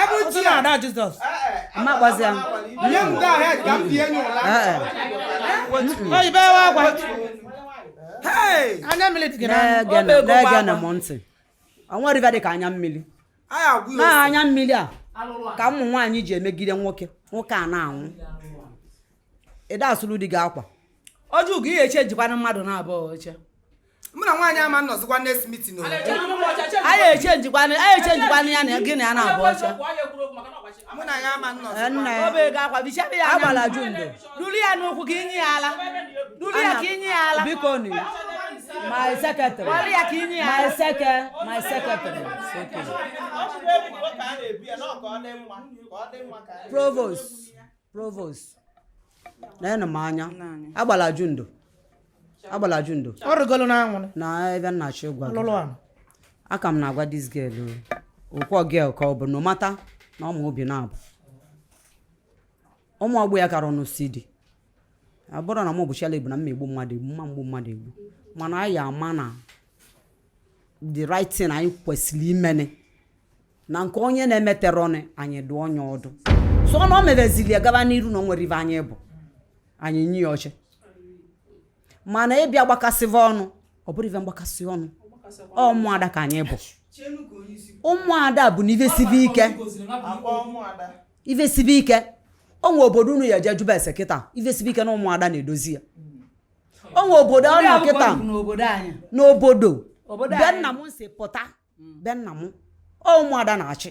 ebe uche na ada jizọs mma gbazi ya nye m go ahead ka m bie nye ụla oyibo ewe agwa anya mmiri dị gị n'anya na-ege na m ntị o nwere ive dị ka anya mmiri na anya mmiri a ka ụmụ nwaanyị ji emegide nwoke nwoke a na-anwụ ị da-asụrụ di gị akwa ọ jụọ gị ihe echenjikwana mmadụ naabọ oche mụ na nwaanyị ama nọzikwa next meeting o anyị echenjikwana anyị echenjikwana ya na gị na ya naabọ oche mụ na ya ama nọzikwa nna ya o bego akwa bechara ya agbala anya ju ndo duru ya n'ụkwụ ka i nye ya ala duru ya ka i nye ya ala bikonụ my secretary weli ya ka i nye ya my seke my secretary provost provost na-ene m anya agbala ju ndo agbala ju ndo ọ rịgolo n'anwụrụ na ebe nna chi gwa gị lụlụ anụ ọ ka m na-agwa this girl o okwu girl ka ọ bụ no matter na ọmụ obi na-abụ ụmụ ọgbọ ya kara ọnụ si dị ọ bụrụ na m bụ Sheila bụ na mma egbu mmadụ egbu mma egbu mmadụ egbu mana anyị amana the right thing anyị kwesịrị imene na nke onye na-emeterọ ọnụ anyị dụọ onye ọdụ so na ọ mebezili ya gaba n'iru na o nwere ive anyị bụ anyị nye ya oche mana ịbịa gbakasịva ọnụ ọ bụrọ ive mgbakasị ọnụ ụmụada ka anyị bụ ụmụada bụ na ive sibe ike ive sibe ike o nwe obodo unu ya-eje jụba ese kịta ive sibe ike na ụmụada na-edozi ya o nwe obodo ọ nọ kịta n'obodo be nna m si pụta be nna m ọ ụmụada na-achị